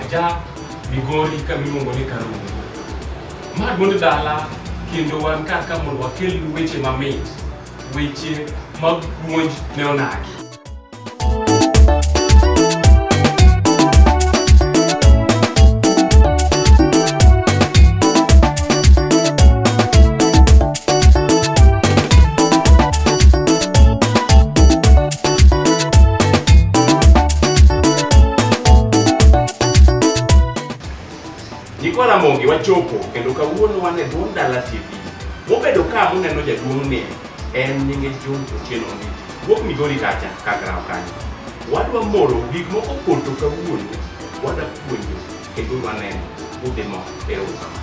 Aja Migori ka miluongo ni Karungu. Ma duond dala kendo wan kar ka mondo wakel weche mamit, weche mag puonj ne onagi. Nyikwa Ramogi wachopo kendo kawuono wan e dho Ndala TV. Mobedo ka muneno jaduong' ni en nyinge John Otieno ni wuok Migori kacha Kagraw kanyo. Wadwa moro gik moko poto kawuono wadwa puonjo kendo waneno udhi mo erokamano.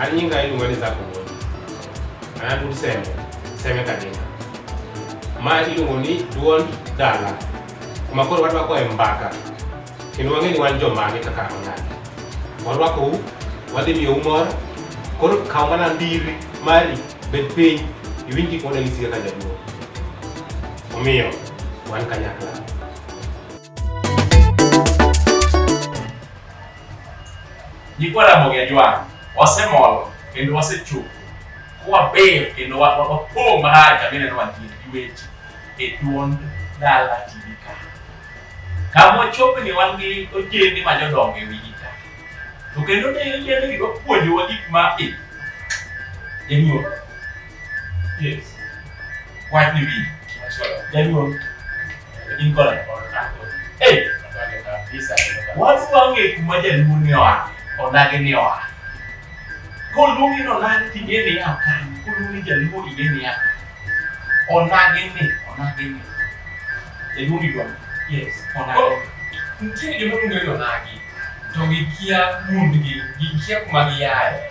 Ani nyinga inu wani zako woni. Ana dul seme. Seme kadinga. Ma iluongo ni duond dala. Kuma koro warwako e mbaka. Kendo wang'e ni wan jomage kaka onagi. Warwako u, wadhi miyo umor. Koro kaw mana ndiri mari bed piny iwinj gik mane gisiga ka jaduo. Omiyo wan kanyakla. Nyikwa Ramogi Ajwang' wasemol kendo wasechopo waber kendo wapong' marach kaka ineno wantie gi weche e duond dala TV ka. Kama wachopni wan gi ojende ma jodongo e wigi ka. To kendo ne ojendegi wapuonjowa gik ma e. Inyuo. Yes. Why do we? Everyone. In color. Hey. What's wrong with Majan Munioa? Or Naganioa? Kolumi no Nani Tigeni Akan. Kolumi Jalu Igeni Akan. Or Nagini. Or Nagini. The movie one. Yes. Or Nagini. Ntie gima luongo ni onagi to gikia gundgi gikia kuma giaye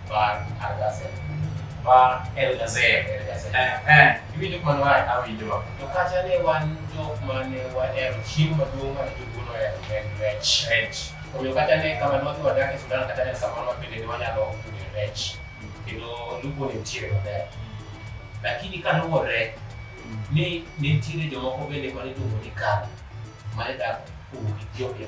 Bar Algazel. Bar Elgazel. Elgazel. Eh, eh. Iwinjo kwan wach? Awinjo. To kacha ne wan jok mane wahero chiemo maduong' mane joluo nohero en rech. Rech. Omiyo kata ne kama ne wadhi wadak e Sudan kata ne samoro wabende ne wanyalo yudo rech. Kendo lupo ne nitiere maber. Lakini kaluwore ni ne nitiere jomoko bende mane iluongo ni Kano mane dak kuom Ethiopia.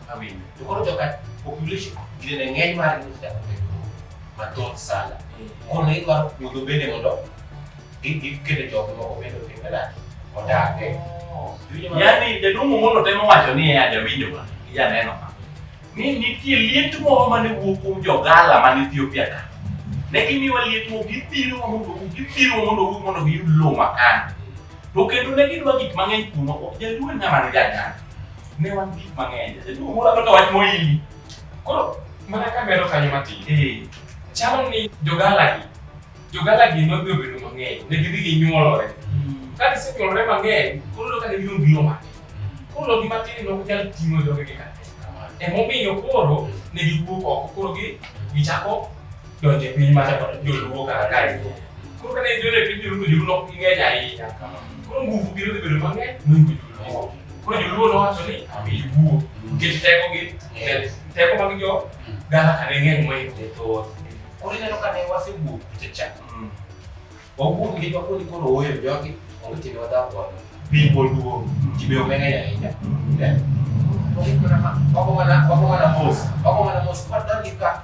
Amin. To koro joka population gine ng'eny mar ni sa mathoth sana. Kono idwaro puodho bende mondo gikete jok moko bende otimbe nadi odage. Yaani jaduong' Omolo temo wacho ni ya jawinjo ma janeno ma ni nitie liet moro mane wuok kuom jogala man Ethiopia ka ne gimiwa liet moro githiro mondo githiro mondo wuog mondo giyud lowo makano to kendo ne gidwa gik mang'eny kuno jaduong' ng'ama ne janyako Ne wan gik mang'eny. Jaduong' moro kaka wach moili. Koro mana ka medo kanyo matin. Eh. Chalo ni jogalagi, jogalagi nodhi obedo mang'eny. Ne gidhi ginyuolore. Hmm. Ka gisenyuolore mang'eny, koro ka gibiro biro matin. Koro gi matin ne ok nyal ting'o jogegi ka. Emomiyo koro ne giwuok oko. Koro gi gichako donjo e piny mar joluo kaka kae. Koro ka ne gidonjo e piny joluo to joluo ne ok ging'eny ahinya. Koro nguvu gi nodhi bedo mang'eny mohingo joluo. Koro joluo nowacho ni ami iwuo nikech teko gi teko mag jo dala ka ne ng'eny mohingo ne thoth. Koro ineno ka ne wasewuok kucha cha. Wawuok gi jwa koni koro oyo jogi onge tiende wadhao godo. Piny pod duong', ji be omeng'eny ahinya. Wago mana mos, wago mana mos kwadonjo ka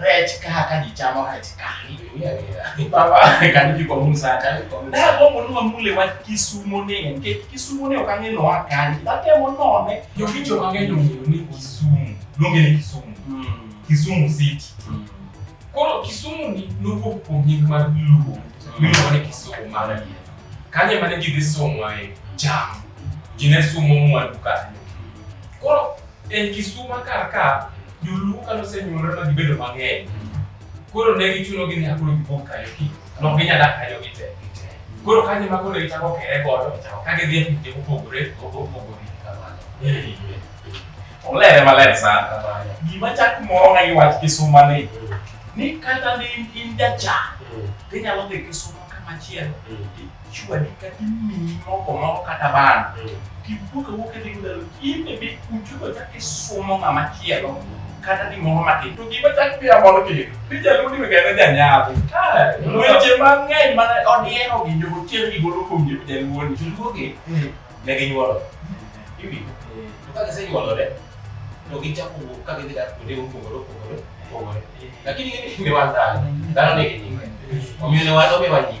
Rech kaka jichamo rech kani. Baba kani ji kwa munsa kani kwa munsa. Da kwa munu mule wa kisumo ne nke kisumo ne okanye no akani. Da te mo no ne. Yo kicho mange no ni kisumo. Longe ni kisumo. Hmm. Kisumo city. Hmm. Koro kisumo ni no ko ponye ma luo. Ni no ne kisumo ma na ye. Kanye ma ne ji de somo ai jam. Jine sumo mu aduka. Koro en kisumo kaka Joluo ka nosenyuolore ma gibedo mang'eny, koro ne gichunogi ni akoro gipong' kanyo ki, ne ok ginyal dak kanyo gite. Koro kanyo ema koro ne gichako kere godo ka gidhi e pinje mopogore opogore. Olere maler sana. Gima chak mora gi wach kisuma ni, ni kata ne in jachan, tinyalo dhi kisuma kamachielo Chwadi kata imiyi mogo moro kata bando, tiwuok awuok idhi ndalo, in e bit kuchugo chak isumo ng'ama chielo kata gimoro matin. To gima chak pia moro kik, ni jalundi mi kata janyadhi. Weche mang'eny mana odiero gi jo otier gi golo kuom jo jaluoni. Joluogi ne ginyuolo. Iwinjo? To ka gisenyuolore, to gichako wuok ka gidhi dak kuonde mopogore opogore opogore. Lakini ing'e ni wan dhano, dhano nigi nyinge. Omiyo ne wan omiwa nying.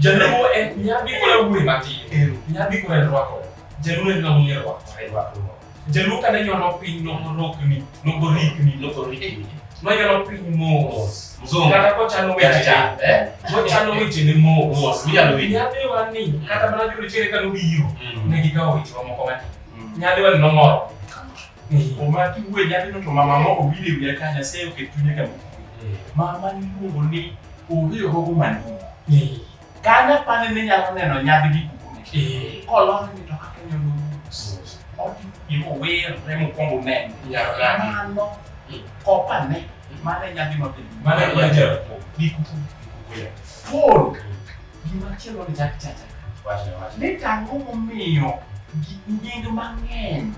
Jaluo en nyabi kore wuoyi matin. Nyabi kore rwako. Jaluo en ng'ama ong'e rwako. Jaluo kane nyono piny norokni, nogorikni, nogorikni. Nonyono piny mos. Mzungu. Kata kochano weche. Eh? Kochano weche ne mos. Mos. Minyalo winjo. Nyabi wani kata mana jolochere kano biro. Ne gikawo weche wa moko matin. Nyabi wani nomoro. Omaki wuoyi nyathino to mama moko winjo wiya ka Nyasaye oket chunye kama. Mama niluongo ni onge ohogo manigi. Kane apani ne nyalo neno nyadhi gi kukume. Kolony ni to kaka nyodo mos. Oti imo wer remo kongo ne. Mano kopane mane nyadhi mapingo. Mane kwa jero. Gi kukume. Full. Gima chielo ni chak chacha. Wache, wache. Ni tang'o momiyo gi- nying mang'eny,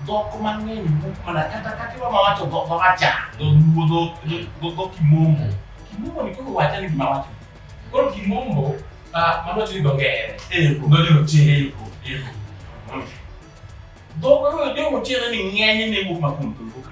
dhok mang'eny wuok mana kata kata iwa ma wacho dhok ma wacha, dholuo, dhok- dhok- dhok- dhok kimombo. Kimombo ni koro wacha ni gima wacho. Koro kimombo, ah, mano wacho ni dho ngere. Eko. Dho jorochere. Eko, eko. Dhok koro jo rochere ni ng'eny ne wuok ma kuom dholuo ka.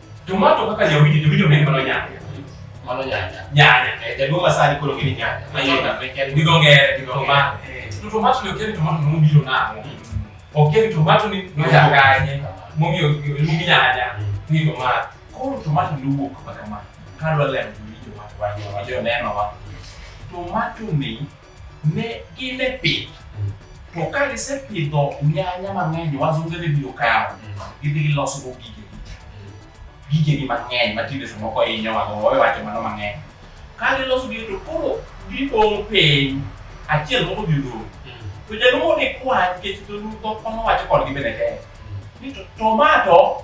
Tomato kaka jawidi jawidi onego mano nyanya. Mano nyanya. Nyanya. Eh, jaduong' asali koro gini nyanya. Mayenda meken gi dho ngere gi dho ngere. Eh. To tomato ne okiya ni tomato ne obiro nang'o. Okiya ni tomato ni nojanganye momiyo iluongi nyanya ni tomato. Koro tomato ne owuok kaka ma. Kadwa lemo to winjo ma. Winjo neno ma. Tomato ni Ne gin e pith. To ka gisepidho nyanya mang'eny, wazunge be biro kawo. Gidhi giloso go gigegi. Gigegi mang'eny ma tinde samoko hinyo wago, wawacho mano mang'eny. Ka giloso gigi to koro gidong' piny, achiel moko dhi odong'. To jaduong' odhi kwa nikech dholuo dhok mane owacho kodgi bende tek. Ni to tomato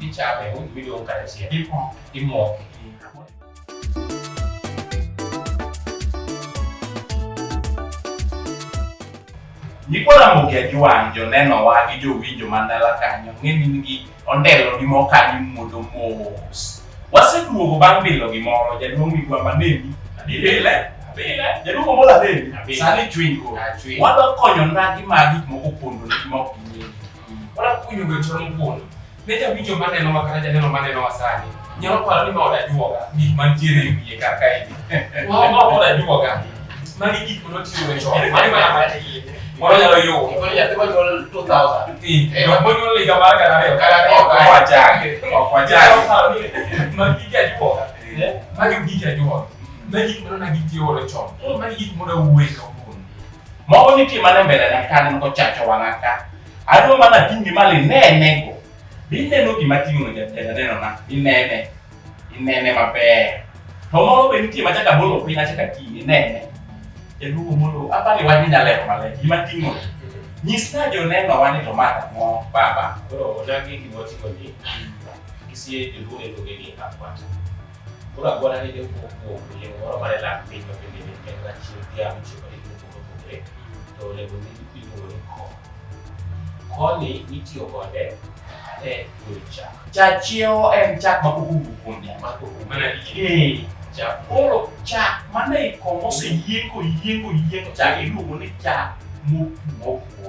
Ichape, un video un carecía. Ipo. Imo. Nyikwa Ramogi Ajuang' jonenowa gi jowinjo man dala kanyo ng'e ni nigi ondelo gi mo kanyo mudho mos. Waseduogo bang' bilo gimoro jaduong' migwa maneni abile abile jaduong' omol aneni sani chwiny koro wadwa konyo ndagi ma gik moko pondo ni ma ok ging'eyo. Ora kunyo ga choro mkono. Ne ja winjo ma neno wa kata janeno ma neno wa sani. Nyalo paro ni ma oda juoga gik mantiere e wiye kar kae. Wa ma oda juoga. Mani gik ma notiyo ga chon. Mani mana ma tiye. Moro nyalo yo. Moro nyathi ma nyuol 2000. Ti. Eh, ma nyuol higa mar gana ariyo. Gana ariyo. Ok wachange. Ok wachange. Nyalo paro ni mani gik ja juoga. Eh? Mani gik ja juoga. Mani gik ma nona gitiyo godo chon. Koro mani gik ma oda wuoye kawuono. Mogo nitie mana e mbelena ka aneno kochacho wang'a ka. Adwa mana ating' gi malo inenego. Be ineno gima ating'ono jatenda nenona? Inene. Inene maber. To moro be nitie machaka bolo piny achaka ting' inene. Jaduogo Omolo, apani wach ni nyalero maler. Gima ating'o. Nyisna jonenowa ni to ma ang'o baba. Koro odagi gima oting'oni. Kisie joluo e tokegi akwata. Koro agwara ni deko kuom yie moro mane lak piny ma bende ne en rachiel dhiang' chiko ni kuom opogore to olemo ni iluongo ni ko. Koni nitiyo kode e golo chak. Chachiewo en chak ma pok owuok kuom dhiang' ma pok owuok mana ee chak. Koro chak mane iko moseyieng' koyieng' koyieng' chak iluongo ni chak mopwo opwo.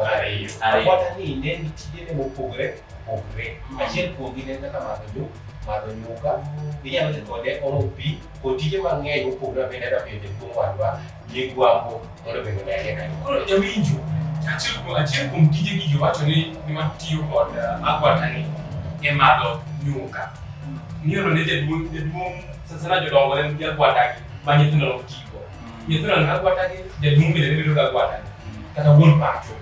Ariyo. Ariyo. Akwata ni ne ni tijene mopogre opogre. Mm. Achiel kuomgi ne en kaka madho nyuka, madho nyuka. Inyalo dhi kode omo pi, kod tije mang'eny mopogre ma bende adwa miyo jaduong' wadwa migwambo mondo bende odagie kanyo. Koro jawinjo, achiel kuom achiel kuom tije ni jowacho ni ni matiyo kod uh, agwata ni e madho nyuka. Miyono ne jaduong' jaduong' sasana jodongo ne nigi agwata gi ma nyithindo ok tigo. nyithindo ne agwata gi jaduong' bende ne bedo ga agwata kata wuon pacho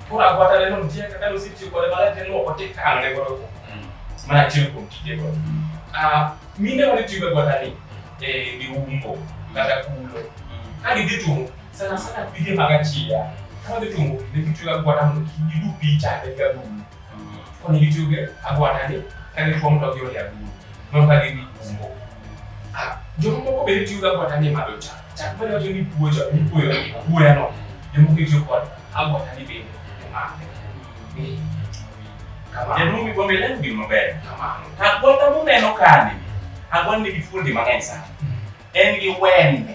koro agwata ne nitie kaka nosetiyo kode malach ne luoko tikano ne godo mana achiel kuom tije godo mine wane tiyo gagwata ni e giumbo kata kulo ka gidhi tumo sana sana pige mag achiya kama dhi tumo ne gitiyo gagwata mondo kik gidu picha ne gagulu koni gitiyo gi agwata ni ka gituomo to giole agulu nono ka gidhi umbo Joma moko bende tiyoga kod ang'e madho cha. Chak bende wacho ni puoyo, puoyo, puoyo no. Joma moko tiyo kod agwata ni bende emane. Kamano. Jaduong' mi bombe lendo gino maber. Kamano. Agwata muneno kani, agwata nigi fuondi mang'eny sana. En gi wembe.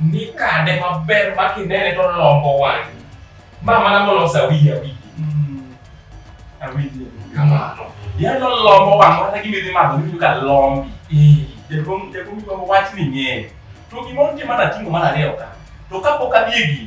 Ni kade maber ma kinene to lombo wang'. Ma mana molosa wigi awigi. Awinjo. Kamano. Yalo lombo wang' mana gimidhi madho miwinjo ka lombi. Jaduong' jaduong' lombo wach ni ng'eny. To gima otimo mana tingo mar ariyo ka. To kapok adhi e gini,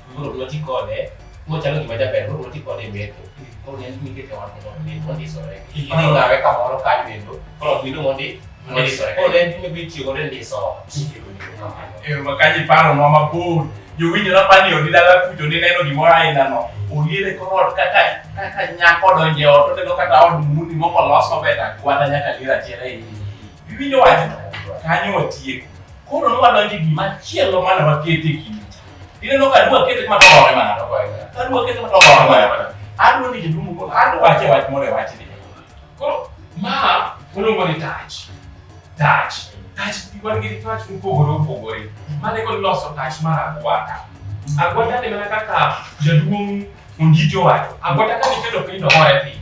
Koro ok noti kode mochalo gima jaber koro noti kode e metho. Koro ne nikete wan mondo mi mondisore. Koro ngawe kamoro kanyo endo. Koro ok miluongo ni mondisore. Koro ne en gima ibitiyo godo e ndiso. Ee, makaji paro ma mabor jowinjo napani odi dala kucho nineno gimoro ainano olier e kor ot kaka kaka nyako donje ot oneno kata od muni moko olos maber agwada nyaka lier achiel ei iwinjo wach kanyo watieko koro nwadonje gimachielo mana wakete e kind Ineno ka adwa kete kama tolore mana. Adwa kete kama tolore mana. Adwa ni jaduong' koro adwa wache wach moro e wachni. Koro ma waluongo ni touch. Touch. Touch wan gi touch mopogore opogore. Mane kod loso touch mar agwata. Agwata ni mana kaka jaduong' Ondijo wacho. Agwata ka niketo piny to hore piny.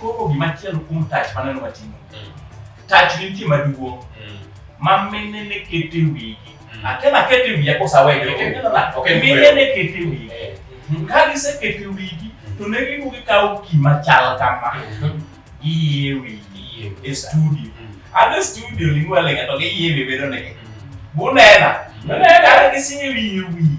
Koro gimachielo kuom tach maneno watimo. Mm. Tach nitie maduong' mm. ma mine ne kete wigi. Mm. Akena kete wiya kosaweyo. Mine ne kete wigi. Eh. Ka gisekete wigi to ne giduogo gikawo gima chal kama. Giye wigi e studio. Ade studio ling'walenga to giye wiye bedo negi. Bunena. Bunena gisinye wiye wiye.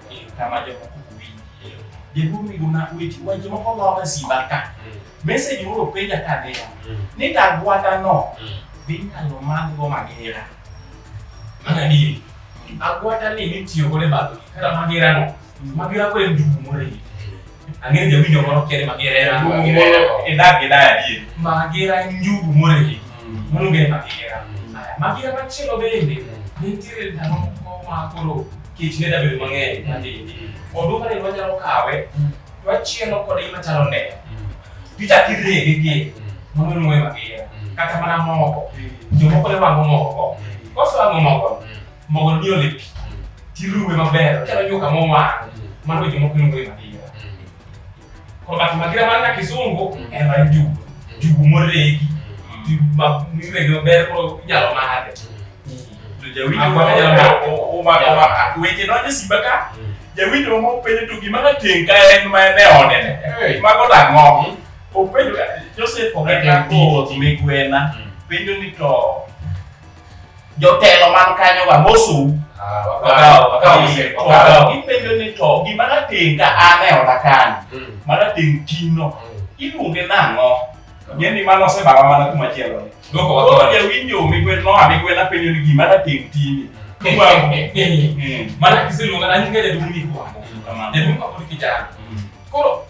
kama jomoko ok winj. Jaduong' ni guna weche weche moko loka simba ka. Message moro penja ka niya ni dagwanda no dhi nyalo madhgo magera. Mano adieri. Agwata ni nitiyo godo e madho gik kata magera no. Magera ko en njugu moro e iye. Ang'eyo jawinjo moro kiere Magera. Magera. Idak gi daya die. Magera njugu moregi. Moluongo ni Magera. Aya, Magera machielo bende nitiere ndalo moko ma koro kech ne dabedo mang'eny matindi. Oduma ne wanyalo kawe to wachielo kode gima chalo nde. Tichako irege gi mano luongo ni Magera. Kata mana moko. Jomoko ne wang'o moko. Kosewang'o moko mogo ni ole pi tiruwe maber ochalo nyuka mowang' mano weche moko iluongo ni magira koro but magira man ka kisungu en mar njugu njugu moregi miregi maber koro inyalo madhe weche donjo simba ka jawinjo mama openjo to gima nateng' ka en ma en e odene mago dang'o openjo joseph oganda migwena penjo ni to jotelo man kanyo ga mosum gipenjo ni to gima nating ka an e oda kani mm. ma nating ting'no mm. iluonge nang'o ng'e ni mano osebawa mana kuma chielo koro jawinjo migwen noa migwen apenjo ni gima nating tini mm. mana kiseluonga nanyinga jaduong' ni kwango jaduong' kapod kijana koro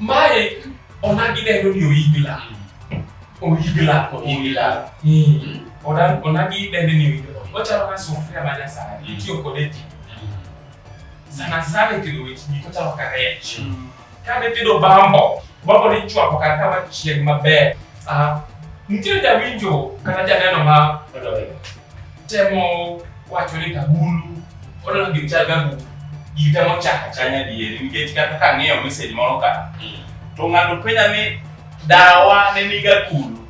Mae onagi dendo ni oigla. Oigla. Oigla. Onagi dendo ni oigla. Ochalo ka sufuria ma nyasani. Itiyo kode ti. Sana sana e tedo weche gik ochalo ka rech. Ka ne tedo bambo, bambo ni chwako kar kama chieng' maber. Nitiere jawinjo kata janeno ma Temo wacho ni Kagulu odwaro gir chal Kagulu gita mochaka chanya dieri nikech kata ka ng'iyo message moro ka hmm. to ng'ato penja ni dawa ne ni Kagulu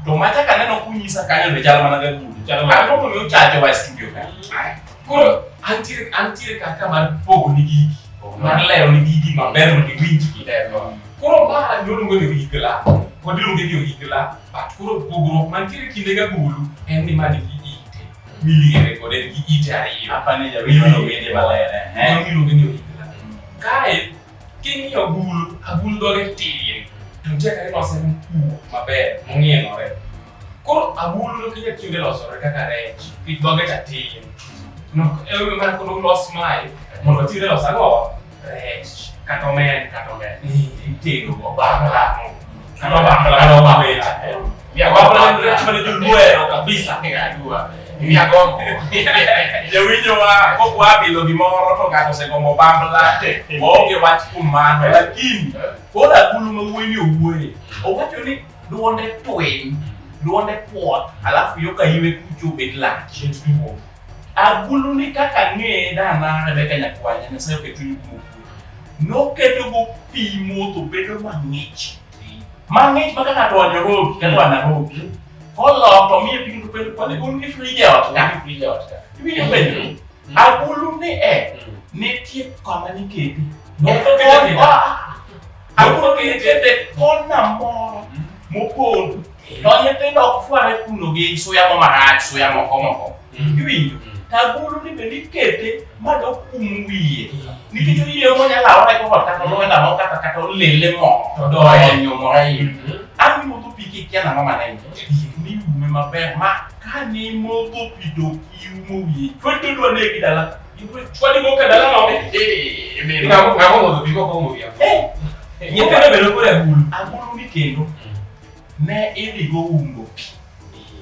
to mata ka neno kunyisa kanyo be chal mana Kagulu chal mana Kagulu mi ochacho wa studio ka hmm. koro antiere antiere kaka mar pogo ni gigi oh, mar lero ni gigi maber mondo iwinjgi koro ma nyoluongo ni gigla kod iluongo ni gigla Koro pogruok mantiere kinde ga gulu en ni ma nigi ite miliere kod en gi ite ariyo. Apane jawinjo no wende maler. Mano miluongo ni oyigla. Kae king'iyo agulu, agulu dhoge tin to nitie kaka ilose mkuo maber mong'ienore. Koro agulu no kinya tiyo gi losore kaka rech, nikech dhoge cha tin. No, ema mana koro los mae mondo tiyo gi los ang'o? rech kata omen kata omen itedo go bambla kata bambla kata bambla ya bambla ni rech mane joluo ero kabisa ngajua mia gombo jawinjo wa kok wabilo gimoro to ng'ato osegombo bambla waonge wach kuom mano lakini pod akulu ma wuoyini owuoye owacho ni duonde twiny duonde puot alafu yo ka iwe kucho bet lach Agulu ni kaka ng'eye da mar Rebeka nyakwar Nyasaye oketo chuny kuom noketo go pi modho bedo mang'ich mang'ich ma ka ng'ato owanyo rogi kata wana rogi koloko miye pigno to penjo kwani un gi frij e ot ka frij e ot ka iwinjo penjo agulu ni e nitie kama niketi Noketo pigno. Awuoro ni nitiere kona moro mopondo to nyithindo ok fware kuno gi suya mo marach suya moko moko mm. iwinjo mm. tagulu ni bende ikete ma dokum wiye mm. nikech oyieyo monyalo awore koko kata olwenda mo kata kata olele mo to donyo mo an iwuotho pi kikia nang'o manene ni ume maber ma ka nimodho pi to iumo wiye chwete dwa negi dala Chwadi moko dala ma onge. Eh, mimi. Ngamo ngamo mondo biko ko mo ya. Eh. Nyoka ne bedo kore agulu. Agulu ni kendo. Mm. Ne idhi go umbo pi.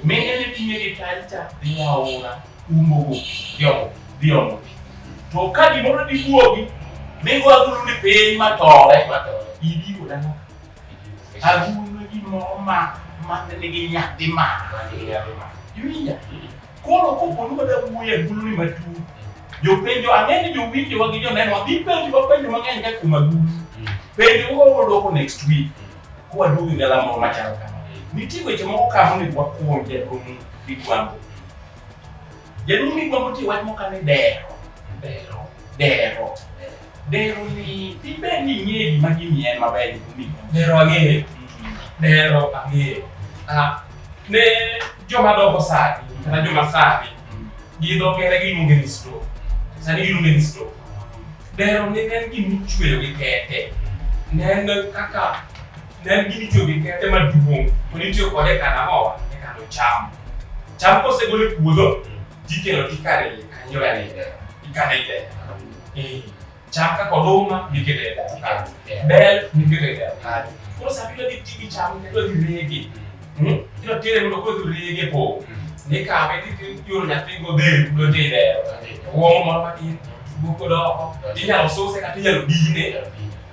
Me ele tinye gi talcha dhi aora umbo go pi. Yo, dhi omo pi. To ka gimoro dhi wuogi, ne go agulu ni piny ma tore. Ma tore. Idi go dala. Agulu ni gimoro ma ma nigi nyathi ma. Ma nigi nyathi ma. Yuya. Koro koponi wada wuoye guluni matut, jopenjo ang'e ni jowinjowa gi joneno wadhi penjo wapenjo mang'eny ka kuma gut. Penjo moko dwoko next week kwa duogo gi galamoro moro machal kama. Nitie weche moko ka monego wakuom jaduong' Migwambo. Jaduong' Migwambo nitie wach moko ka ni dero. Dero. Dero. Dero ni ibe ni ng'eyo gima gini en maber gi kundi. Dero ang'eyo. Dero ang'eyo. Ah, ne joma dongo sani kata joma sani gi dho ngere giluonge ni stroke. Sani giluonge ni stroke. Dero ni en gima ichweyo gi kete. Ne en kaka ne en gima ichweyo gi kete maduong' to nitiyo kode e kano ang'owa e kano cham. Cham kosegol e puodho tikelo tikano e kanyo e dero. Ikano e dero. Eh. Chaka koduma nikete kare. Yeah. Bel nikete kare. Koro sa bidwa dhi tigi chamo kendo dhi rege. Mm. Hmm? Kiro tire mondo koro dhi rege po. Mm. Ni kawe ti yoro nyathi go del do ti dero. Wong moro matin. Buko doko. Inyalo suse kata inyalo dine.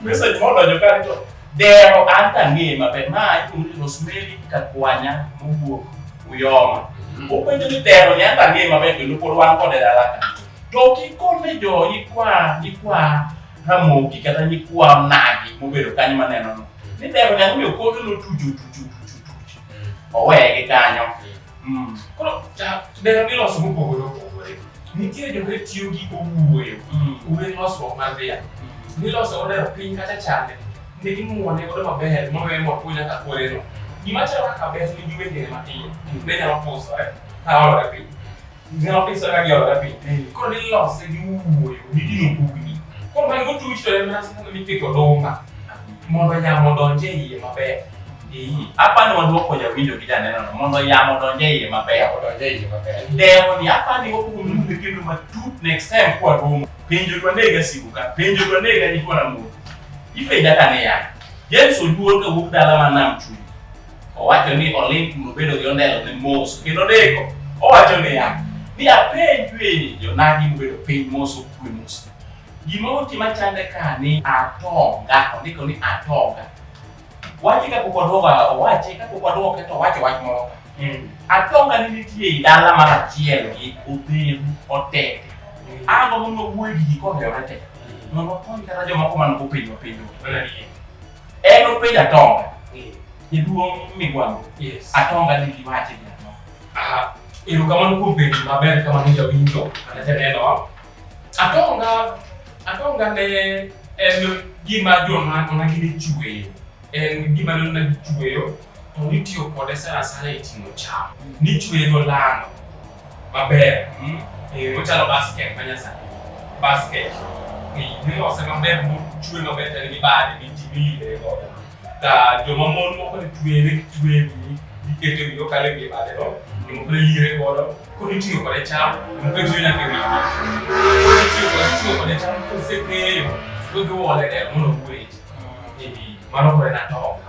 Message ma odonjo ka to dero an tang'e maber ma iluongo ni Rosemary Kakwanya mowuok Uyoma. Openjo ni dero ni an tang'e maber kendo pod wan kode dala ka. To kikone jo nyikwa nyikwa Ramogi kata nyikwa Nagi mobedo kanyo maneno no. Ni dero ni ang'omiyo kode notujo tujo tujo tujo. Oweye gi kanyo. Mm. Koro dero gi loso mopogore opogore. Nitie joma tiyo gi owuoyo, mm. uwe losruok mar dhiang'. Mm. Niloso odero piny kata chande, ne gimuone godo maber mowe mwapuo nyaka kuoneno. Gima chalo kaka bes nigi wengene matiyo, ne nyalo pusore ka olore piny. Ng'ama pesa ka gi oda piny. Mm. Koro nilose gi wuoyo, nidino bugni. Koro man gotuch to en mana sikuno mipiko oduma mondo yamo odonje e iye maber. Apani wadwoko jawinjo gi janenono mondo yamo odonje e iye maber. Odonje e iye maber. Dewo ni apani wakuongo mundo kendo matut next time kwa romo. Penjo to anega siku ka, penjo to anega ni kwa na mundo. Ipenja ka niya, James Oduor ka wuok dala ma nam chuny. Owacho ni oling' kuno bedo gi ondelo ne mos kendo deko. Owacho niya, ni apenjue ni jonagi mobedo piny mos okue mos. Gima oti machande ka ni atonga, ondiko ni atonga. Wache ka pok waduogo owache ka pok waduoke to owacho wach moro ka. Atonga ni nitie i dala mar achiel gi odheru otete. An mondo wuoyi gi ji kohewre te. Mondo wakony kata jomoko man go piny mapiny. En openjo Atonga. Eh. Jaduong' Migwambo. Yes. Atonga ni giwache ni ang'o? Aha. Erokamano kuom penjo maber kamano jawinjo kata janeno. Atonga Atonga ne en gima joma onagi ni chueyo. En gima nonagi chueyo to nitiyo kode sana sana e ting'o cham. Nichwego lano maber. Mm? Eh, ochalo basket ma nyasani. Basket. Nilose maber mochwe maber tani gi bade gi timile godo. Ta joma mon moko ni twere gi twere gikete wiyo kale gi bade no. Joma kore lire godo. Koro itiyo kode cham. Joma kore tiyo nyaka e wiyo. Koro itiyo kode itiyo kode cham kosekeyo. Koro giwole del mondo ogwech. Mano kore na toka.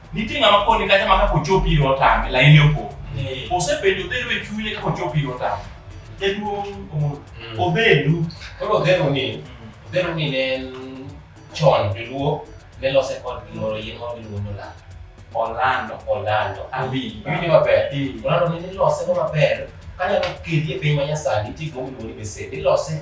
Nitie ng'ama koni kata ma kaka ochopi iro otame, laini opo. Osebedo dhero e chunye kaka ochopi iro otame. Jaduong' Omolo, Mm. obedu. Koro odhero ni, odhero ni ne en chon joluo ne lose kod gimoro yien moro miluongo ni olando. Olando. Olando. Awinjo. Iwinjo maber? Eh. Olando ni nilose go maber kanyalo kedi e piny manyasani nitie gima iluongo ni besen. Nilose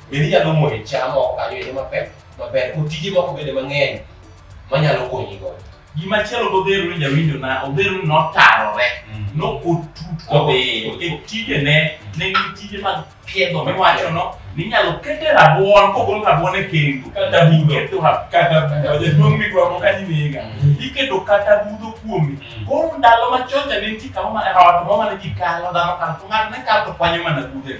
Bende inyalo moyo cham oko kanyo e yo maber maber kod tije moko bende mang'eny manyalo konyi go. Gima chielo modhero ni jawinjo na odhero ni notarore mm. nokotut kodhiyo e tijene ne gin tije mag piedho miwacho no ninyalo kete rabuon kogol rabuon e kendo kata iketo kata jaduong' migwamo ka nimega mm. iketo kata budho kuome mm. koro ndalo machocha ne nitie kama ot moro mane ji kalo dhano kalo to ng'ato ne kalo to kwanyo mana budho e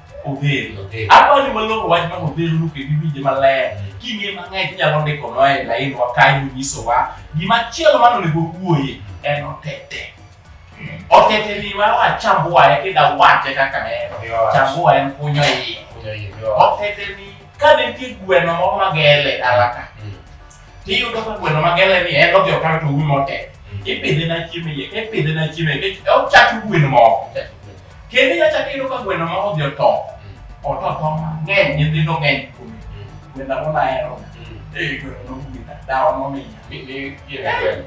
odhero Odhero. apani maloko wach ma odhero no kendo iwinje maler king'e mang'eny inyalo ndikonwa e lainwa kae monyisowa gima chielo mane onego wuoye en otete otete ni ma wachambua e kida wache kaka en chambua en kunyo iye Kunyo iye, yo. otete ni ka nitie gweno moro magele alaka Mm. tiyudo ka gweno magele ni en odhi okawe to uwi motete Mm. ipidhe na chiemo iye ka ipidhe na chiemo iye kech- ochach gweno moko Kendo ya chak iyudo ka gweno ma odhi oto. Oto to mang'eny nyithindo ng'eny kuome. Gwenda mona hero. Eh gweno no gwenda. Dawa no minya. Mi mi yie gweno.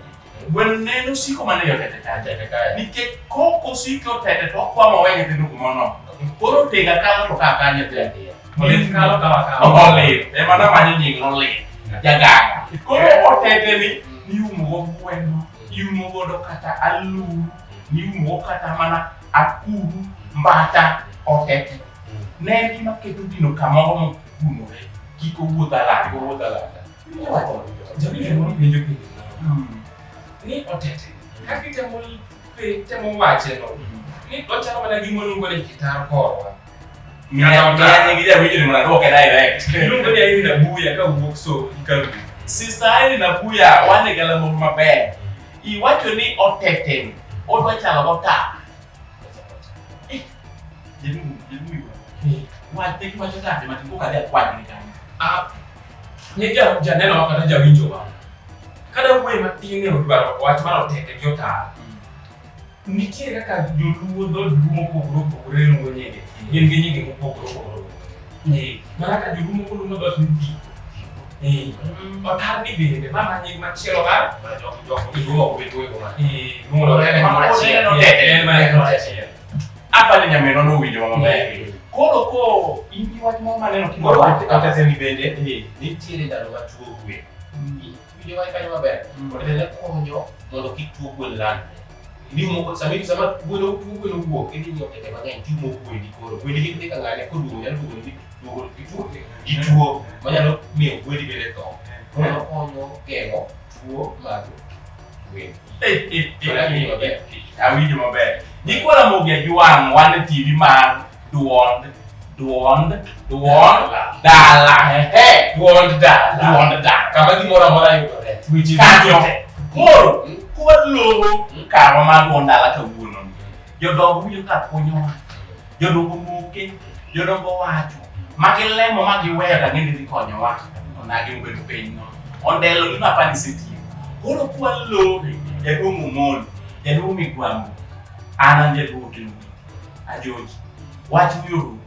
Gweno ne en osiko mane yo tete kacha. Tete kacha. Nikech kok osiko tete to okwamo we nyithindo kumono. Koro tega kalo to kaka nyithindo. Olit kalo kawa kawa. Olit. Ema na manyo nying olit. Jaganga. Koro otete ni iumo go gweno. Iumo godo kata aluru. niumo kata mana akuru mbata otete ne en gima keto gino kamoro mokunore kik owuoth alanga owuoth alanga ni otete ka kitemo temo wache no ni ochalo mana gima oluongo ni kitaro korwa iluongo ni aini nabuya ka wuok so ikaru sista aini nabuya wane galamoro maber Iwacho ni oteteni. Odwa chalo mota. Eh, Jemi, jemi. Wate ki wacho tande mati kuka dia kwa ni kani. Ah, ni ja ja neno wa kata ja winjo wa. Kada uwe matine udwaro wach mano tete jota. Nitie kaka joluo dhod luo mopogore opogore luwo nyinge, gin gi nyinge mopogore opogore. Eh, mana ka joluo moko luwo dhod luti. Eh, otar ni bende mama nying machielo mar jogo jogo iluwo obedo ego ma. Eh, luwo en mama achiel. En mama achiel. Apa ni nyaminwa nowinjo maber. Koro ko in gi wach moro maneno koro kata semi bende nitiere ndalo ma tuo gwe. Winjo wach kanyo maber. Mm. Ote ne konyo mondo kik tuo gwen landre. Ni moko sama in sama gwen tuo gwen owuok idhi nyiewo tete mang'eny timo gwendi koro. Gwendi kik dhi ka ng'ane koduogo nyalo duogo ni duogo gi tuo gi tuo manyalo miyo gwendi bende tho. Koro konyo geng'o tuo mag gwen. Awinjo maber. Nyikwa Ramogi Ajwang' wan e TV mar Duond, duond, duond, dala. Ehe, duond dala. Duond dala. Kama gimoro amora yudore. Weche Kanyo. duto. Koro, kwaluongo karwa mar duond dala kawuono. Jodongo winjo ka konyowa. Jodongo moke, jodongo wacho. Ma gilemo ma giweyo ka gini dhi konyowa. Onagi obed piny no. Ondelo gima apani isetiyo. Koro kwaluongo jaduong' Omolo, jaduong' Migwambo, an an jaduong' Otieno. Ajoji, wach wiuru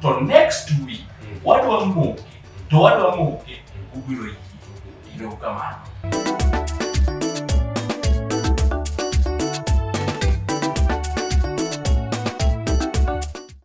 to next week mm. wadwa moke to wadwa moke mm. ubiro yie. Ino kamano.